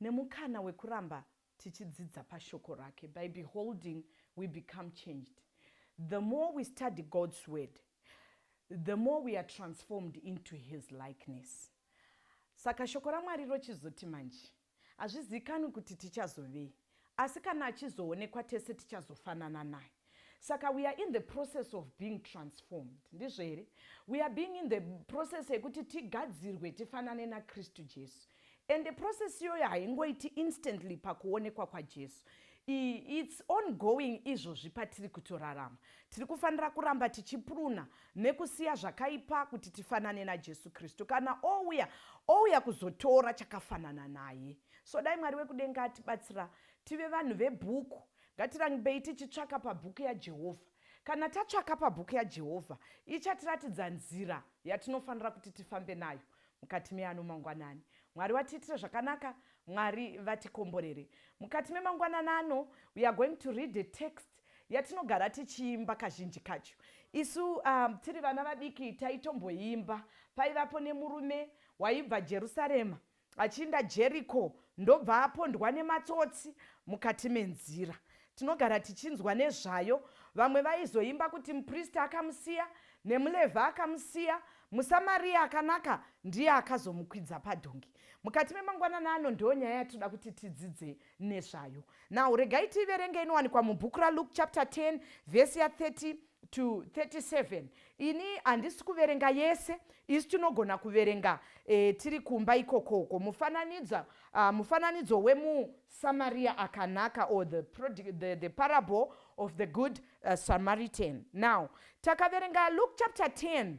nemukana wekuramba tichidzidza pashoko rake. By beholding we become changed. The more we study God's word, the more we are transformed into his likeness. Saka shoko raMwari rochizoti manje, hazvizivikanwi kuti tichazovei, asi kana achizoonekwa tese tichazofanana naye saka we are in the process of being transformed ndizvo here we are being in the process yekuti tigadzirwe tifanane nakristu jesu and the process iyoyo haingoiti instantly pakuonekwa kwajesu its ongoing izvozvi patiri kutorarama tiri kufanira kuramba tichipuruna nekusiya zvakaipa kuti tifanane najesu kristu kana ouya ouya kuzotora chakafanana naye So dai Mwari wekudenga atibatsira tive vanhu vebhuku. Ngatirambei tichitsvaka pabhuku yaJehovha. Kana tatsvaka pabhuku yaJehovha, ichatiratidza nzira yatinofanira kuti tifambe nayo mukati meano mangwanani. Mwari watiitire zvakanaka. Mwari vatikomborere. Mukati memangwanana ano, we are going to read a text yatinogara tichiimba kazhinji kacho. Isu um, tiri vana vadiki taitomboimba. Paivapo nemurume waibva Jerusarema Achinda Jeriko ndobva apondwa nematsotsi mukati menzira. Tinogara tichinzwa nezvayo. Vamwe vaizoimba kuti mupristi akamusiya, nemuLevhi akamusiya, muSamaria akanaka ndiye akazomukwidza padhongi. Mukati memangwanana ano ndiyo nyaya yatinoda kuti tidzidze nezvayo. Now regai tiiverenge inowanikwa mubhuku raLuke chapter 10 vhesi ya 30 to 37 ini handisi kuverenga yese isu tinogona kuverenga e, tiri kumba ikokoko mufananidzo uh, ah, mufananidzo wemusamaria akanaka or the, the, the parable of the good uh, samaritan now takaverenga luke chapter 10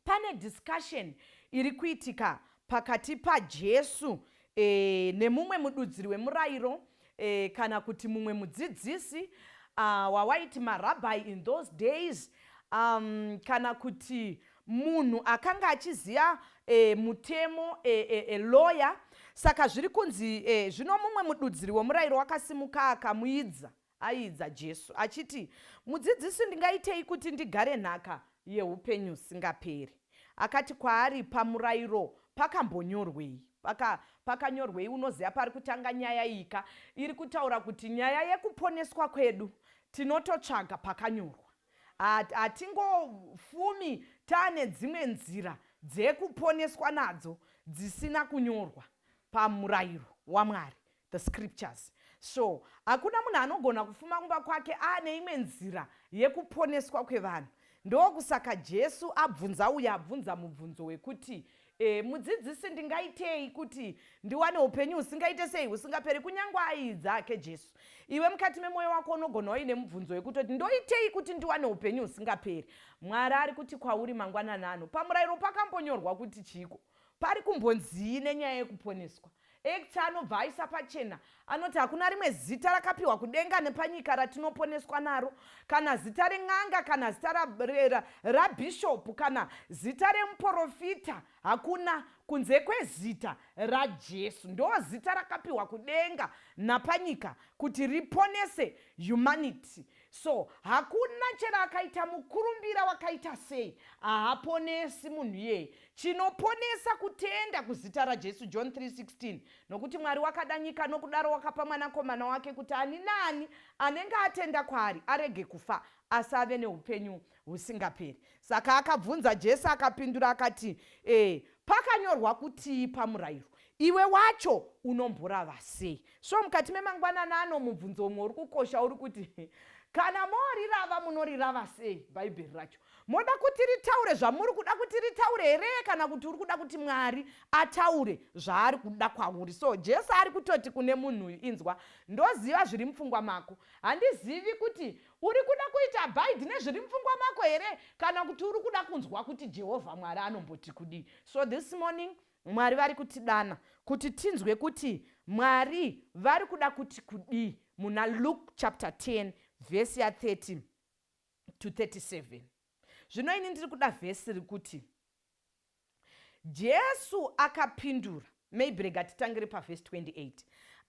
Pane discussion iri kuitika pakati paJesu e, nemumwe mududziri wemurairo e, kana kuti mumwe mudzidzisi uh, wawaiti marabhai in those days um, kana kuti munhu akanga achiziva e, mutemo e, e, e, lawyer saka zviri kunzi e, zvino mumwe mududziri wemurairo wakasimuka akamuidza Aiidza Jesu, achiti, Mudzidzisi, ndingaitei kuti ndigare nhaka yeupenyu husingaperi? Akati kwaari, Pamurairo pakambonyorwei? Paka, pakanyorwei? Unoziva pari kutanga nyaya iyi ka? Iri kutaura kuti nyaya yekuponeswa kwedu tinototsvaga pakanyorwa. Hatingofumi taane dzimwe nzira dzekuponeswa nadzo dzisina kunyorwa pamurairo waMwari. the scriptures so hakuna munhu anogona kufuma kumba kwake aane imwe nzira yekuponeswa kwevanhu ndokusaka jesu abvunza uye abvunza mubvunzo wekuti e, mudzidzisi ndingaitei kuti ndiwane upenyu husingaite sei husingaperi kunyange aii dzake jesu iwe mukati memwoyo wako unogona waine mubvunzo wekutoti ndoitei kuti ndiwane upenyu husingaperi mwari ari kuti kwauri mangwanani ano pamurayiro pakambonyorwa kuti chiiko pari kumbonzii nenyaya yekuponeswa Act anobva aisa pachena anoti hakuna rimwe zita rakapiwa kudenga nepanyika ratinoponeswa naro, kana zita ren'anga, kana zita rabhishopu, kana zita remuporofita, hakuna kunze kwezita raJesu. Ndo zita rakapiwa kudenga napanyika kuti riponese humanity. So hakuna chero akaita mukurumbira wakaita sei, haaponesi munhu iyeye. Chinoponesa kutenda kuzita raJesu, John 3:16, nokuti Mwari wakada nyika nokudaro wakapa mwanakomana wake kuti ani naani anenge atenda kwaari arege kufa asi ave neupenyu Husingaperi. Saka akabvunza Jesu akapindura akati, E, pakanyorwa kutii pamurayiro? Iwe wacho unomborava sei? So mukati memangwanana ano mubvunzo umwe uri kukosha uri kuti kana morirava munorirava sei bhaibheri racho moda kuti ritaure zvamuri kuda kuti ritaure here kana kuti uri kuda kuti mwari ataure zvaari kuda kwauri so jesu ari kutoti kune munhu uyu inzwa ndoziva zviri mupfungwa mako handizivi kuti Uri kuda kuita abide nezviri mupfungwa mako here kana kuti uri kuda kunzwa kuti Jehovha Mwari anomboti kudii? So this morning Mwari vari kutidana kuti tinzwe kuti Mwari vari kuda kuti kudii muna Luke chapter 10 verse ya 30 to 37. Zvino ini ndiri kuda vhesi rikuti Jesu akapindura, maybe rega titangire pavhesi 28.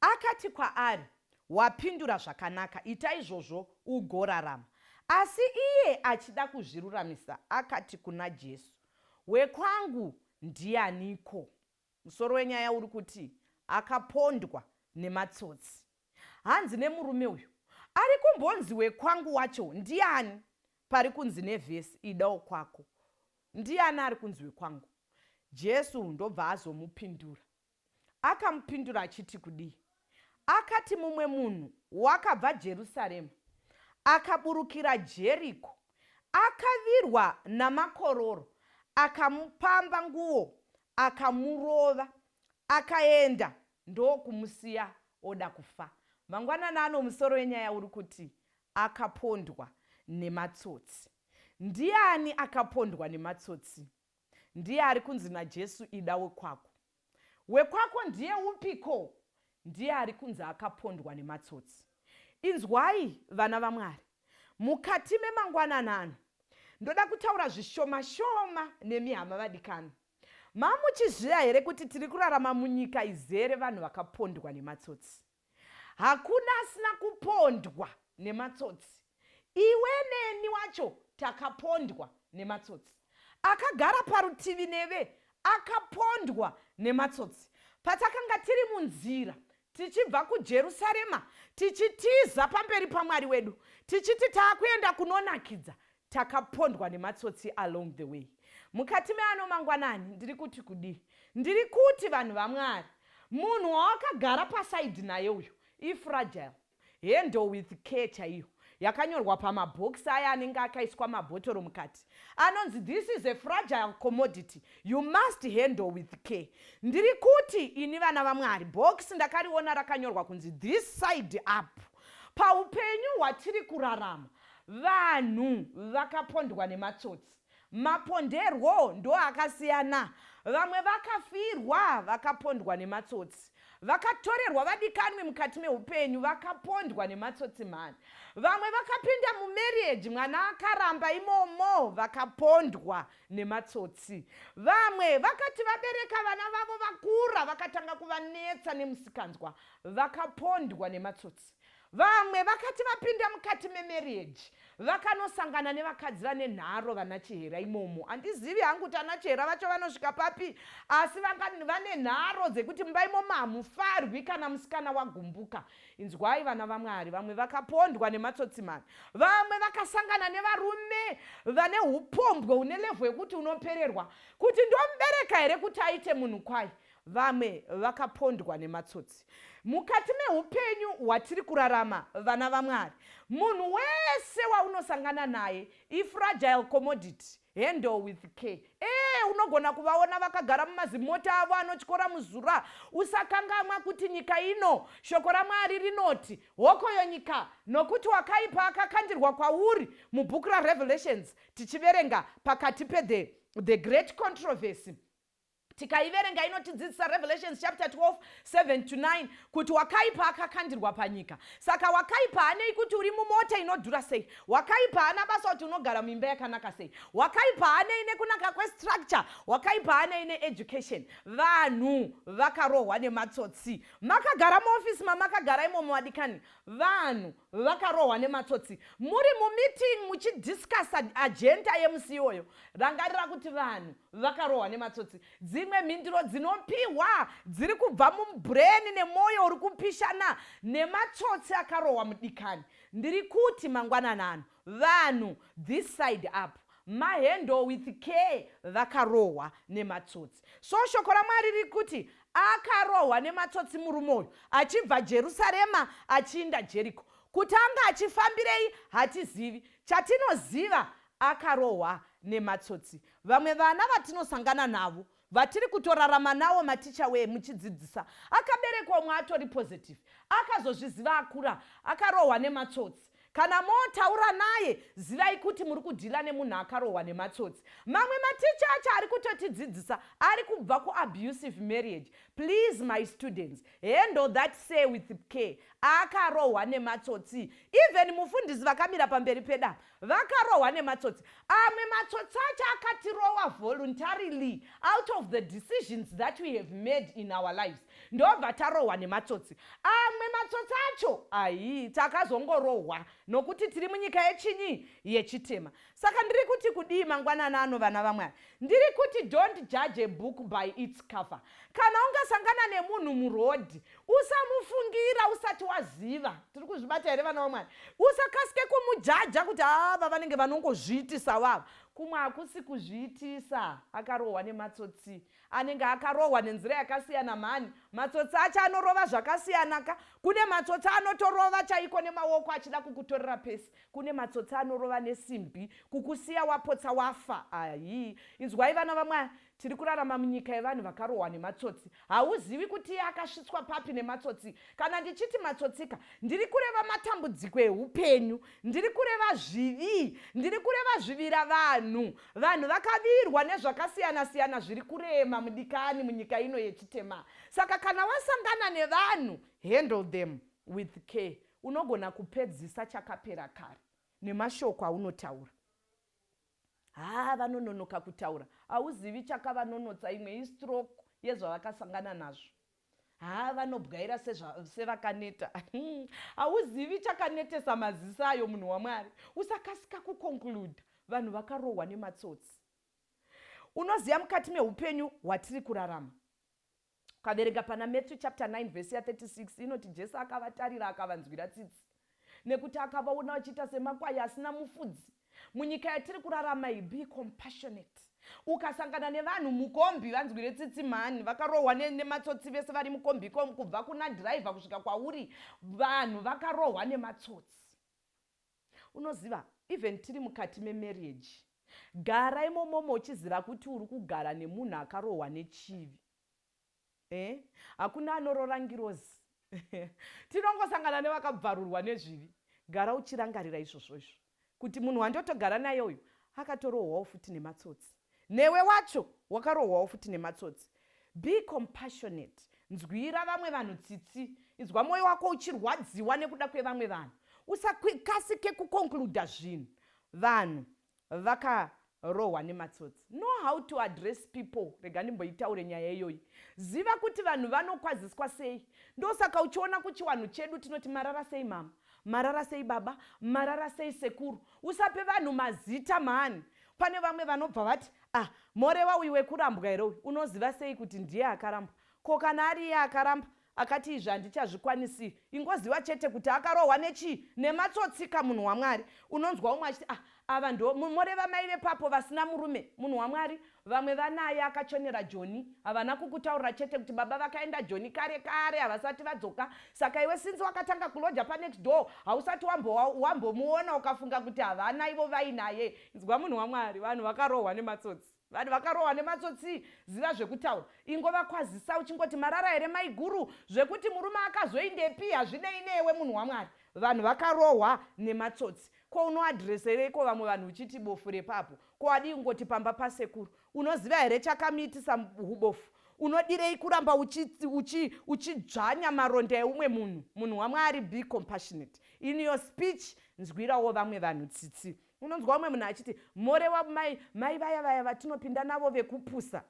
Akati kwaari, Wapindura zvakanaka, ita izvozvo ugorarama. Asi iye achida kuzviruramisa, akati kuna Jesu, Wekwangu ndianiko? Musoro wenyaya uri kuti akapondwa nematsotsi. Hanzi nemurume uyu, ari kumbonzi wekwangu wacho ndiani? Pari kunzi nevhesi, Ida wokwako. Ndiani ari kunzi wekwangu? Jesu ndobva azomupindura. Akamupindura achiti kudii? Akati mumwe munhu wakabva Jerusarema akaburukira Jeriko akavirwa namakororo akamupamba nguo akamurova akaenda ndokumusiya oda kufa. Mangwanani ano musoro wenyaya uri kuti akapondwa nematsotsi. Ndiani akapondwa nematsotsi? Ndiye ari kunzi naJesu, Ida wekwako. Wekwako ndiye upiko? Ndiye ari kunzi akapondwa nematsotsi. Inzwai, vana vaMwari, mukati memangwanana ano ndoda kutaura zvishoma shoma nemi hama vadikani. Mamuchizviya here kuti tiri kurarama munyika izere vanhu vakapondwa nematsotsi? Hakuna asina kupondwa nematsotsi. Iwe neni wacho takapondwa nematsotsi. Akagara parutivi neve akapondwa nematsotsi. Patakanga tiri munzira tichibva kuJerusarema tichitiza pamberi paMwari wedu tichiti taakuenda kunonakidza Takapondwa nematsotsi along the way. Mukati meano mangwanani ndiri kuti kudii? Ndiri kuti vanhu vaMwari, munhu wawakagara pasaidhi naye uyo ifragile. Handle with care chaiyo yakanyorwa pamabhokisi aya anenge akaiswa mabhotoro mukati anonzi this is a fragile commodity you must handle with care ndiri kuti ini vana vamwari bhokisi ndakariona rakanyorwa kunzi this side up paupenyu hwatiri kurarama Vanhu vakapondwa nematsotsi. Maponderwo ndoakasiyana. Vamwe vakafirwa vakapondwa nematsotsi. Vakatorerwa vadikanwi mukati meupenyu vakapondwa nematsotsi mhani. Vamwe vakapinda mumarriage mwana akaramba imomo vakapondwa nematsotsi. Vamwe vakati vabereka vana vavo vakura vakatanga kuvanetsa nemusikanzwa vakapondwa nematsotsi. vamwe vakati vapinda mukati memarriage vakanosangana nevakadzi vane nharo vana chihera imomo handizivi hangu kuti ana chihera vacho vanosvika papi asi vane nharo dzekuti mumba imomo hamufarwi kana musikana wagumbuka inzwai vana vamwari vamwe vakapondwa nematsotsimani vamwe vakasangana nevarume vane upombwe une levho yekuti unopererwa kuti ndomubereka here kuti aite munhu kwai vamwe vakapondwa nematsotsi mukati meupenyu hwatiri kurarama vana vamwari munhu wese waunosangana naye ifragile commodity handle with care ee eh, unogona kuvaona vakagara mumazimota avo anotyora muzura usakangamwa kuti nyika ino shoko ramwari rinoti hokoyo nyika nokuti wakaipa akakandirwa kwauri mubhuku rarevelations tichiverenga pakati pethe the great controversy tikaiverenga inotidzidzisa revelations chapter 12 7 to 9 kuti wakaipa akakandirwa panyika saka wakaipa hanei kuti uri mumota inodhura sei wakaipa hana basa kuti unogara muimba yakanaka sei wakaipa hanei nekunaka kwestructure wakaipa hanei needucation vanhu vakarohwa nematsotsi makagara muofisi mamakagara imomo vadikani vanhu vakarohwa nematsotsi muri mumeeting muchidiscussa agenta yemusi iyoyo rangarira kuti vanhu vakarohwa nematsotsi dzimwe mhinduro dzinopihwa dziri kubva mubreni nemwoyo uri kupishana nematsotsi akarohwa mudikani ndiri kuti mangwanana anhu Vanhu this side up ma handle with care vakarohwa nematsotsi. So shoko raMwari riri kuti akarohwa nematsotsi murume uyu achibva Jerusarema achiinda Jeriko. Kuti anga achifambirei hatizivi. Chatinoziva akarohwa nematsotsi. Vamwe vana vatinosangana navo vatiri kutorarama nawo maticha wee muchidzidzisa akaberekwa umwe atori positive akazozviziva akura akarohwa nematsotsi kana motaura naye zivai kuti muri kudhila nemunhu akarohwa nematsotsi mamwe maticha acho ari kutotidzidzisa ari kubva kuabusive marriage please my students handle that say with care akarohwa nematsotsi even mufundisi vakamira pamberi pedama vakarohwa nematsotsi amwe matsotsi acho akatirowa voluntarily out of the decisions that we have made in our lives ndobva tarohwa nematsotsi amwe matsotsi acho ayi takazongorohwa nokuti tiri munyika yechinyi yechitema saka ndiri kuti kudii mangwanana ano vana vamwari ndiri kuti don't judge a book by its cover kana ungasangana nemunhu murodhi usamufungira usati waziva tiri kuzvibata here vana vamwari usakasike kumujaja kuti ava vanenge vanongozviitisa vava kumwe hakusi kuzviitisa akarohwa nematsotsi anenge akarohwa nenzira yakasiyana mhani matsotsi acho anorova zvakasiyana ka kune matsotsi anotorova chaiko nemaoko achida kukutorera pesi kune matsotsi anorova nesimbi kukusiya wapotsa wafa ayi inzwai vana vamwari Tiri kurarama munyika yevanhu vakarohwa nematsotsi. Hauzivi kuti iye akasvitswa papi nematsotsi. Kana ndichiti matsotsika, ndiri kureva matambudziko ehupenyu, ndiri kureva zvivi, ndiri kureva zvivira vanhu. Vanhu vakavirwa nezvakasiyana siyana zviri kurema mudikani munyika ino yechitema. Saka kana wasangana nevanhu, handle them with care. Unogona kupedzisa chakapera kare nemashoko aunotaura. haa vanononoka kutaura hauzivi chakavanonotsa imwe istroke yezvavakasangana nazvo haa vanobwaira sevakaneta hmm, hauzivi chakanetesa maziso ayo munhu wamwari usakasika kuconcluda vanhu vakarohwa nematsotsi unoziva mukati meupenyu hwatiri kurarama Ukaverenga pana Matthew chapter 9 verse ya 36 inoti Jesu akavatarira akavanzwira tsitsi nekuti akavaona vachiita semakwai asina mufudzi. Munyika yatiri kurarama iyi, be compassionate. Ukasangana nevanhu mukombi, vanzwire tsitsi mhani, vakarohwa nematsotsi vese vari mukombi ikomu, kubva kuna dhiraivha kusvika kwauri, vanhu vakarohwa nematsotsi. Unoziva even tiri mukati memarriage gara imomomo uchiziva kuti uri kugara nemunhu akarohwa nechivi eh? hakuna anorora ngirozi tinongosangana nevakabvarurwa nezvivi gara uchirangarira izvozvo izvo kuti munhu wandotogara naye uyu akatorohwawo futi nematsotsi Newe wacho wakarohwawo futi nematsotsi. Be compassionate. Nzwira vamwe vanhu tsitsi. Inzwa moyo wako uchirwadziwa nekuda kwevamwe vanhu. Usakasike kuconcluda zvinhu. Vanhu vaka rohwa nematsotsi know how to address people rega ndimboitaure nyaya iyoyi ziva kuti vanhu vanokwaziswa sei ndosaka uchiona kuchiwanhu chedu tinoti marara sei mama marara sei baba marara sei sekuru usape vanhu mazita mhani pane vamwe vanobva vati ah morewa uyu wekurambwa here uyu unoziva sei kuti ndiye akarambwa ko kana ari iye akaramba akati izvi handichazvikwanisi ingoziva chete kuti akarohwa nechii nematsotsika munhu wamwari unonzwa umwe achiti ah Ava ndo moreva mai vepapo vasina murume munhu wamwari vamwe vanaye akachonera joni havana kukutaurira chete kuti baba vakaenda joni kare kare havasati vadzoka saka iwe sinzi wakatanga kuloja panext door hausati wambomuona ukafunga kuti havana ivo vainaye inzwa munhu wamwari vanhu vakarohwa nematsotsi Vanhu vakarohwa nematsotsii ziva zvekutaura ingova kwazisa uchingoti marara here maiguru zvekuti murume akazoindepi hazvinei newe munhu wamwari vanhu vakarohwa nematsotsi ko unoadhiresereiko vamwe vanhu uchiti bofu repapo ko wadii kungoti pamba pasekuru unoziva here chakamiitisa ubofu unodirei kuramba uchidzvanya uchi, uchi maronda eumwe munhu munhu wamwari be compassionate in your speech nzwirawo vamwe vanhu tsitsi unonzwa umwe munhu achiti morewa mai mai vaya vaya vatinopinda navo vekupusa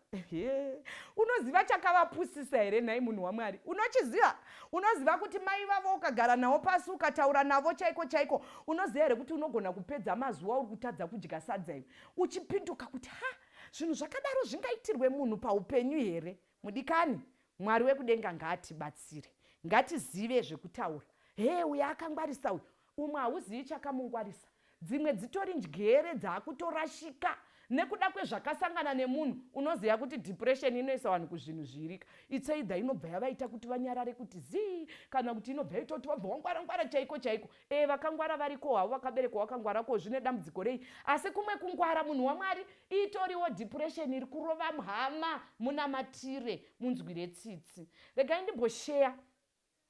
unoziva chakavapusisa here nhai munhu wamwari unochiziva unoziva kuti mai vavo ukagara navo pasi ukataura navo chaiko chaiko unoziva here kuti unogona kupedza mazuva uri kutadza kudya sadza iwe uchipinduka kuti ha zvinhu zvakadaro zvingaitirwe munhu paupenyu here mudikani mwari wekudenga ngaatibatsire ngatizive zvekutaura hee uyo akangwarisa uyo Umwe hauzivi chakamungwarisa dzimwe dzitori njgere dzakutorashika nekuda kwezvakasangana nemunhu unoziva kuti depression inoisa vanhu kuzvinhu zviirika it's either inobva yavaita kuti vanyarare kuti zii kana kuti inobva yaita kuti vabva wangwara ngwara chaiko chaiko ee eh, vakangwara variko havo vakaberekwa wakangwara ko zvine dambudziko rei asi kumwe kungwara munhu wamwari itoriwo depression iri kurova mhama munamatire munzwire tsitsi regai ndimbosheya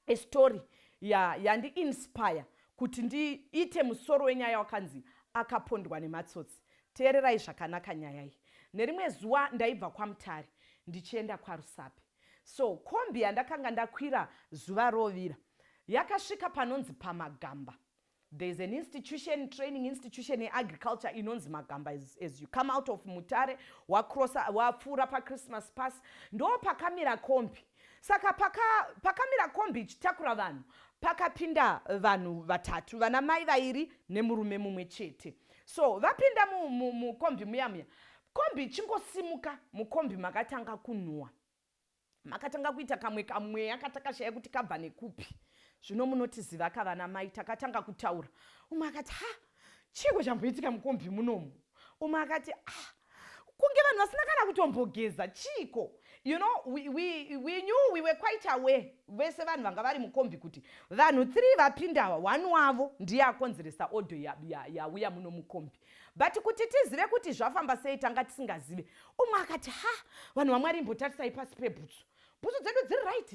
a story yandi ya inspire kuti ndiite musoro wenyaya wakanzi akapondwa nematsotsi teererai zvakanaka nyaya iyi nerimwe zuva ndaibva kwamutare ndichienda kwarusape so kombi yandakanga ndakwira zuva rovira yakasvika panonzi pamagamba There is an institution, training institution in agriculture inonzi Magamba as, as you come out of Mutare, wacrossa, wapfuura paChristmas Pass, ndo pakamira kombi. Saka paka, pakamira kombi ichitakura vanhu, pakapinda vanhu vatatu, vana mai vairi nemurume mumwe chete. So vapinda mukombi mu, mu, muya muya, kombi ichingosimuka, mukombi makatanga kunhuwa. makatanga kuita kamwe kamweya katakashaya kuti kabva nekupi zvino munotiziva kavana mai takatanga kutaura umwe akati ha chiiko chamboitika mukombi munomu umwe akati ah kunge vanhu vasina kana kutombogeza chiiko you know we, we, we knew we were quite aware vese vanhu vanga vari mukombi kuti vanhu three vapindawa one wavo ndiye akonzeresa odo yauya ya, ya, muno mukombi but kuti tizive kuti zvafamba sei tanga tisingazive umwe akati ha vanhu vamwari imbotarisai pasi pebhutsu bhutsu dzedu dziri right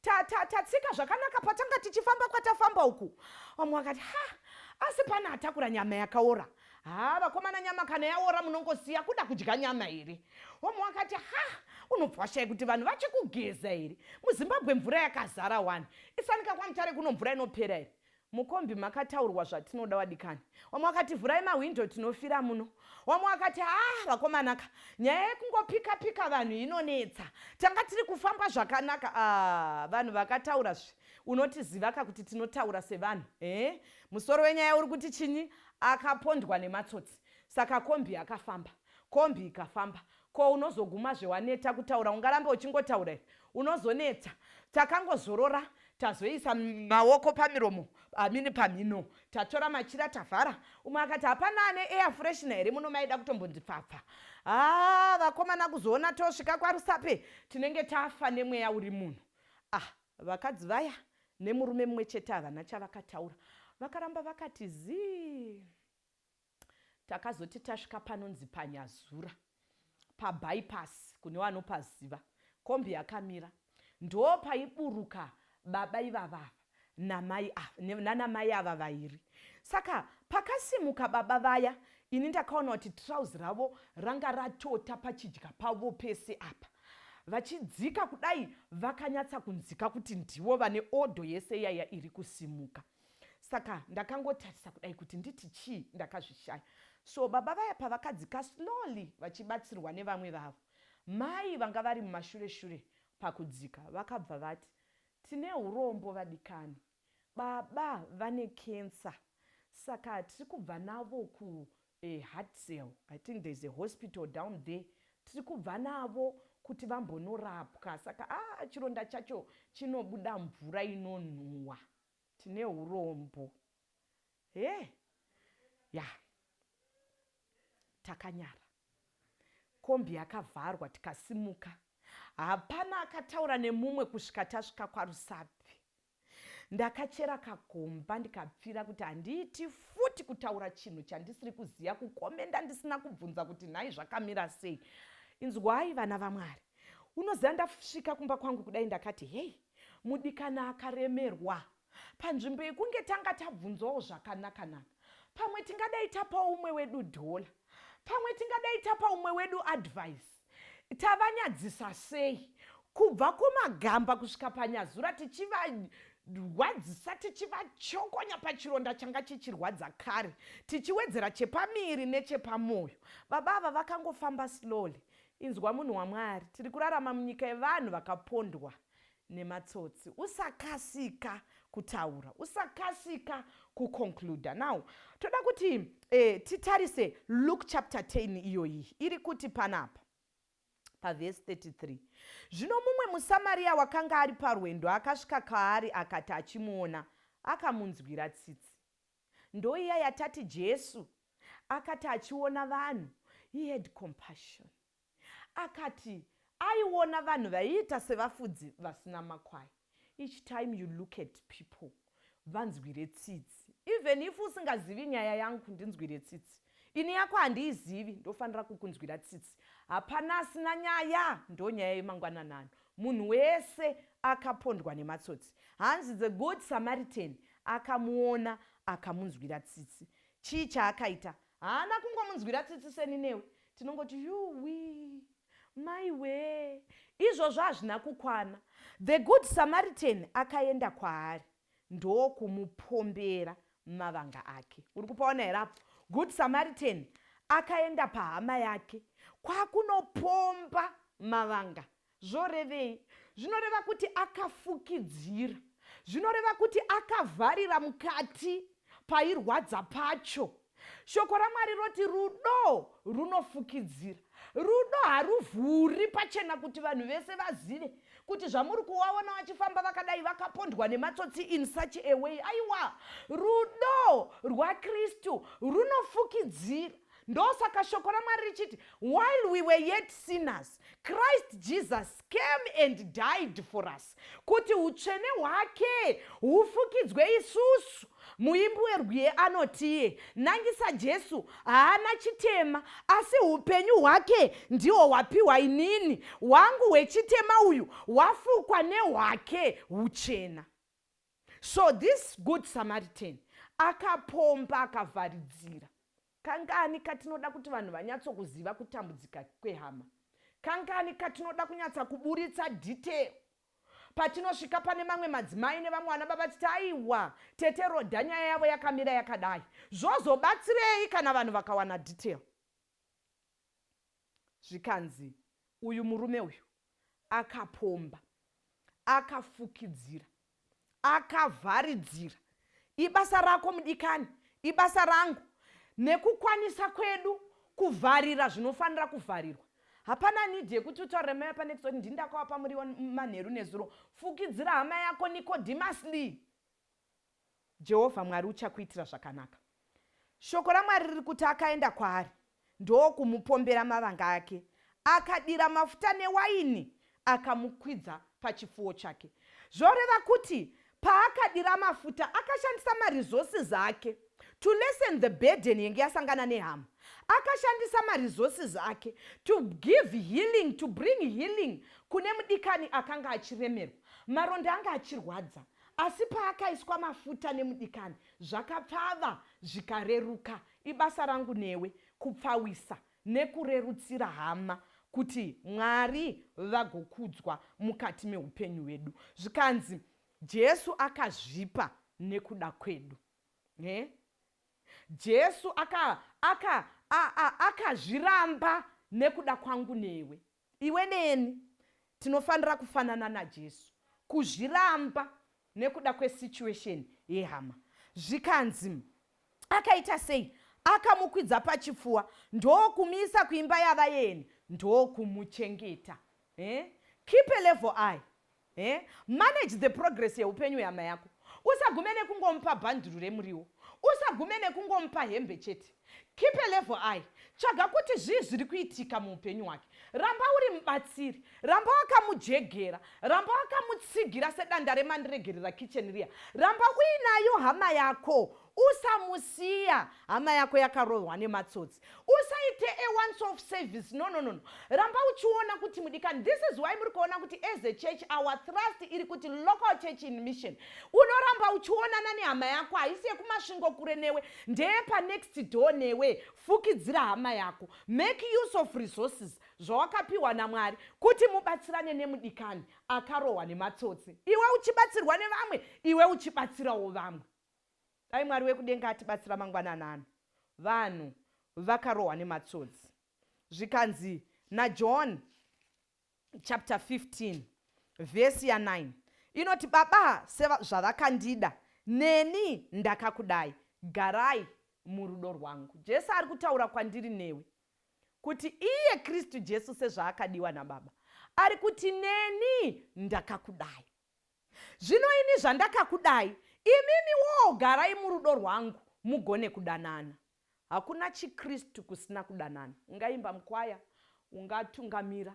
tatsika zvakanaka patanga tichifamba kwatafamba uku vamwe vakati ha asi pane atakura nyama yakaora ha vakomana nyama kana yaora munongosiya kuda kudya nyama here vamwe vakati ha unobva washaya kuti vanhu vachikugeza here muzimbabwe mvura yakazara wani isanika kwamutare kuno mvura inopera here Mukombi makataurwa zvatinoda wadikani. Wamwe wakati vhurai mahwindo tinofira muno. Wamwe wakati ah vakomanaka nyaya yekungopika pika vanhu inonetsa. Tanga tiri kufamba zvakanaka ah vanhu vakataura zve unotizivaka kuti tinotaura sevanhu. Eh musoro wenyaya uri kuti chinyi akapondwa nematsotsi saka kombi yakafamba kombi ikafamba ko unozoguma zvewaneta kutaura ungarambe uchingotaura here unozonetsa takangozorora tazoisa maoko pamiromo amini pamhino tatora machira tavhara umwe akati hapana ane air freshina here muno maida kutombonzi pfapfa haa ah, vakomana kuzoona tosvika kwarusape tinenge tafa nemweya uri munhu ah vakadzi vaya nemurume mumwe chete havana chavakataura vakaramba vakati zii Takazoti tasvika panonzi paNyazura pabypass kune wanopaziva. Kombi yakamira ndopaiburuka baba ivava ava namai ava nanamai ava vairi. Saka pakasimuka baba vaya ini ndakaona kuti trouse ravo ranga ratota pachidya pavo pese apa. Vachidzika kudai vakanyatsa kunzika kuti ndivo vane order yese iyaya iri kusimuka. saka ndakangotarisa kudai kuti nditi chii ndakazvishaya so baba vaya pavakadzika slowly vachibatsirwa nevamwe vavo mai vanga vari mumashure shure pakudzika vakabva vati tine urombo vadikani baba vane cancer saka tiri kubva navo ku eh, heart cell i think there's a hospital down there tiri kubva navo kuti vambonorapwa saka ah, chironda chacho chinobuda mvura inonhuwa tine hurombo hee ya takanyara kombi yakavharwa tikasimuka hapana akataura nemumwe kusvika tasvika kwarusapi ndakachera kagomba ndikapfira kuti handiiti futi kutaura chinhu chandisiri kuziva kukomenda ndisina kubvunza kuti nhai zvakamira sei inzwai vana vamwari unoziva ndasvika kumba kwangu kudai ndakati hei Mudikani akaremerwa. Panzvimbo yekunge tanga tabvunzwawo zvakanaka-naka, pamwe tingadai tapawo umwe wedu dhola. Pamwe tingadai tapa umwe wedu advhaisi. Tavanyadzisa sei? Kubva kumagamba kusvika panyazura, tichivarwadzisa, tichivachokonya pachironda changa chichirwadza kare, tichiwedzera chepamiri nechepamwoyo. Baba ava vakangofamba slowly. Inzwa munhu waMwari, tiri kurarama munyika yevanhu vakapondwa nematsotsi. Usakasika kutaura, usakasika ku concluder. Now toda kuti eh, titarise Luke chapter 10 iyoyi iri kuti panapa pavhesi 33 zvino mumwe musamariya wakanga ari parwendo akasvika kaari akati achimuona akamunzwira tsitsi Ndoiya yatati Jesu akati achiona vanhu, he had compassion. Akati aiona vanhu vaiita sevafudzi vasina makwai. Each time you look at people, vanzwire tsitsi. Even if usingazivi nyaya yangu, ndinzwire tsitsi. Ini yako handiizivi ndofanira kukunzwira tsitsi hapana asina nyaya ndonyaya yemangwananano munhu wese akapondwa nematsotsi hanzi the good Samaritan akamuona akamunzwira tsitsi chii chaakaita haana kungomunzwira tsitsi seni newe tinongoti yuwii maiwee izvozvo hazvina kukwana the good Samaritan akaenda kwaari ndokumupombera mavanga ake uri kupaona here apo good samaritan akaenda pahama yake kwakunopomba mavanga zvorevei zvinoreva kuti akafukidzira zvinoreva kuti akavharira mukati pairwadza pacho Shoko raMwari roti rudo runofukidzira. Rudo haruvhuri pachena kuti vanhu vese vazive kuti zvamuri kuwaona vachifamba vakadai vakapondwa nematsotsi in such a way. Aiwa, rudo rwaKristu runofukidzira. Ndosaka shoko raMwari richiti while we were yet sinners, Christ Jesus came and died for us kuti utsvene hwake hufukidzwe isusu muimbi werwiye anotiye nangisa jesu haana chitema asi upenyu hwake ndihwo hwapiwa inini hwangu hwechitema uyu hwafukwa nehwake uchena so this good samaritan akapomba akavharidzira Kangani katinoda kuti vanhu vanyatsokuziva kutambudzika kwehama? Kangani katinoda kunyatsa kuburitsa detail patinosvika pane mamwe madzimai nevamwe vana baba titi aiwa tete roda nyaya yavo yakamira yakadai zvozobatsirei kana vanhu vakawana detail zvikanzi uyu murume uyu akapomba akafukidzira akavharidzira ibasa rako mudikani ibasa rangu nekukwanisa kwedu kuvharira zvinofanira kuvharirwa hapana nidi yekuti utaure mai apa next kuti ndindakawapa muriwo manheru nezuro fukidzira hama yako nikodhimasi lee Jehovha Mwari uchakuitira zvakanaka. Shoko raMwari riri kuti akaenda kwaari ndokumupombera mavanga ake, akadira mafuta newaini, akamukwidza pachipfuwo chake. Zvoreva kuti paakadira mafuta akashandisa maresources ake to lessen the burden yenge yasangana nehama akashandisa maresources ake to give healing to bring healing kune mudikani akanga achiremerwa maronda anga achirwadza Asi paakaiswa mafuta nemudikani, zvakapfava zvikareruka. Ibasa rangu newe kupfawisa nekurerutsira hama kuti Mwari vagokudzwa mukati meupenyu hwedu. Zvikanzi Jesu akazvipa nekuda kwedu. He? Jesu akazviramba aka, aka, aka nekuda kwangu newe. Iwe neni tinofanira kufanana naJesu, kuzviramba nekuda kwesituation yehama. Zvikanzi, Akaita sei? Akamukwidza pachipfuwa ndokumuisa kuimba yavaeni ndokumuchengeta. Eh? Keep a level eye. He? Manage the progress yeupenyu hwehama yako. Usagume nekungomupa bhanduru remuriwo. Usagume nekungomupa hembe chete. Keep a level eye. Tsvaga kuti zvii zviri kuitika muupenyu hwake. Ramba uri mubatsiri. Ramba wakamujegera. Ramba wakamutsigira sedanda remandiregerera kitchen riya. Ramba uinayo hama yako usamusiya hama yako yakarohwa nematsotsi usaite a once of service no no no ramba uchiona kuti mudikani this is why muri kuona kuti as a church our trust iri kuti local church in mission unoramba uchionana nehama yako haisi yekumasvingo kure newe ndeye panext door newe fukidzira hama yako make use of resources zvawakapiwa namwari kuti mubatsirane nemudikani akarohwa nematsotsi iwe uchibatsirwa nevamwe iwe uchibatsirawo vamwe Dai Mwari wekudenga atibatsira mangwanani ano. Vanhu vakarohwa nematsotsi. Zvikanzi naJohn chapter 15 vhesi ya 9 inoti baba sezvavakandida neni ndakakudai garai murudo rwangu jesu ari kutaura kwandiri newe kuti iye kristu jesu sezvaakadiwa nababa ari kuti neni ndakakudai Zvino ini zvandakakudai, imimi woo garai murudo rwangu mugone kudanana. Hakuna chiKristu kusina kudanana. Ungaimba mukwaya, ungatungamira,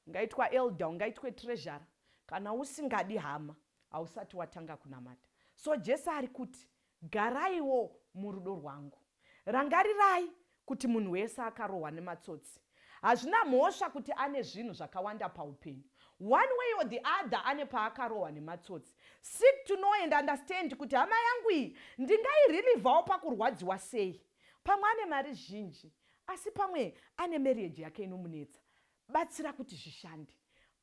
ungaitwa elder, ungaitwe treasurer, kana usingadi hama hausati watanga kunamata. So Jesu ari kuti Garaiwo murudo rwangu. Rangarirai kuti munhu wese akarohwa nematsotsi. Hazvina mhosva kuti ane zvinhu zvakawanda paupenyu. One way or the other ane paakarohwa nematsotsi. Seek to know and understand kuti hama yangu iyi ndingairelivawo pakurwadziwa sei. Pamwe ane mari zhinji asi pamwe ane marriage yake inomunetsa. Batsira kuti zvishande.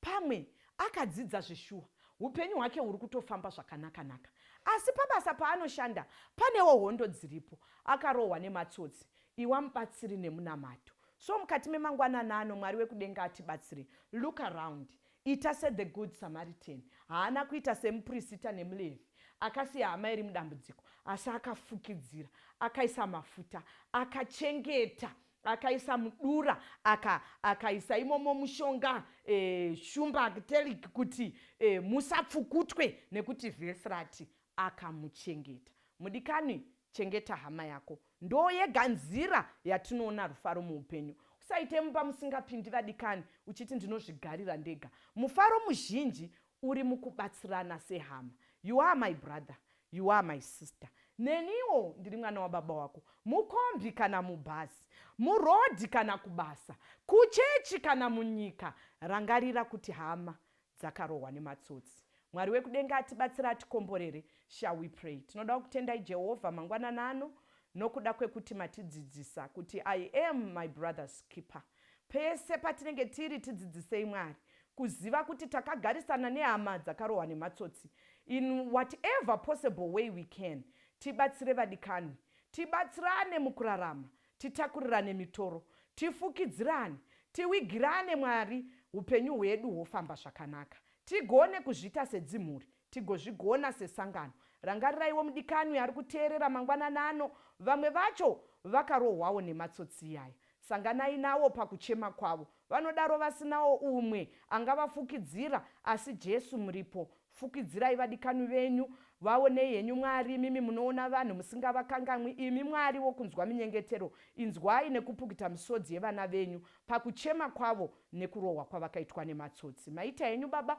Pamwe akadzidza zveshuwa, upenyu hwake huri kutofamba zvakanaka-naka. Asi pabasa paanoshanda panewo hondo dziripo. Akarohwa nematsotsi. Iwa mubatsiri nemunamato. So mukati memangwanana ano Mwari wekudenga atibatsire. Look around. Ita se the good Samaritan. Haana kuita semuprisita nemuLevhi. Akasiya hama iri mudambudziko. Asi akafukidzira. Akaisa mafuta. Akachengeta. akaisa mudura aka akaisa imomo mushonga e, shumba teliki kuti e, musapfukutwe nekuti vhesi rati akamuchengeta mudikani chengeta hama yako ndo yega nzira yatinoona rufaro muupenyu usaite mumba musingapindi vadikani uchiti ndinozvigarira ndega mufaro muzhinji Uri mukubatsirana sehama. You are my brother. You are my sister. Neniwo ndiri mwana wababa wako. Mukombi kana mubhazi. Murodhi kana kubasa. Kuchechi kana munyika. Rangarira kuti hama dzakarohwa nematsotsi. Mwari wekudenga atibatsira atikomborere. Shall we pray? Tinoda kutendai Jehovha mangwanana ano nokuda kwekuti matidzidzisa kuti I am my brother's keeper. Pese patinenge tiri, tidzidzisei Mwari kuziva kuti takagarisana nehama dzakarohwa nematsotsi in whatever possible way we can. Tibatsire vadikanwi. Tibatsirane mukurarama. Titakurirane mitoro. Tifukidzirane. Tiwigirane Mwari hupenyu hwedu hwofamba zvakanaka. Tigone kuzviita sedzimhuri. Tigozvigona sesangano. Rangariraiwo mudikanwi ari kuteerera mangwanani ano. Vamwe vacho vakarohwawo nematsotsi iyaya. Sanganai nawo pakuchema kwavo. Vanodaro vasinawo umwe angavafukidzira, asi Jesu muripo. Fukidzirai vadikanwi venyu. Vaonei henyu Mwari, imimi munoona vanhu musingavakangamwi. Imi Mwari wokunzwa minyengetero, inzwai nekupukita misodzi yevana venyu pakuchema kwavo nekurohwa kwavakaitwa nematsotsi. Maita henyu Baba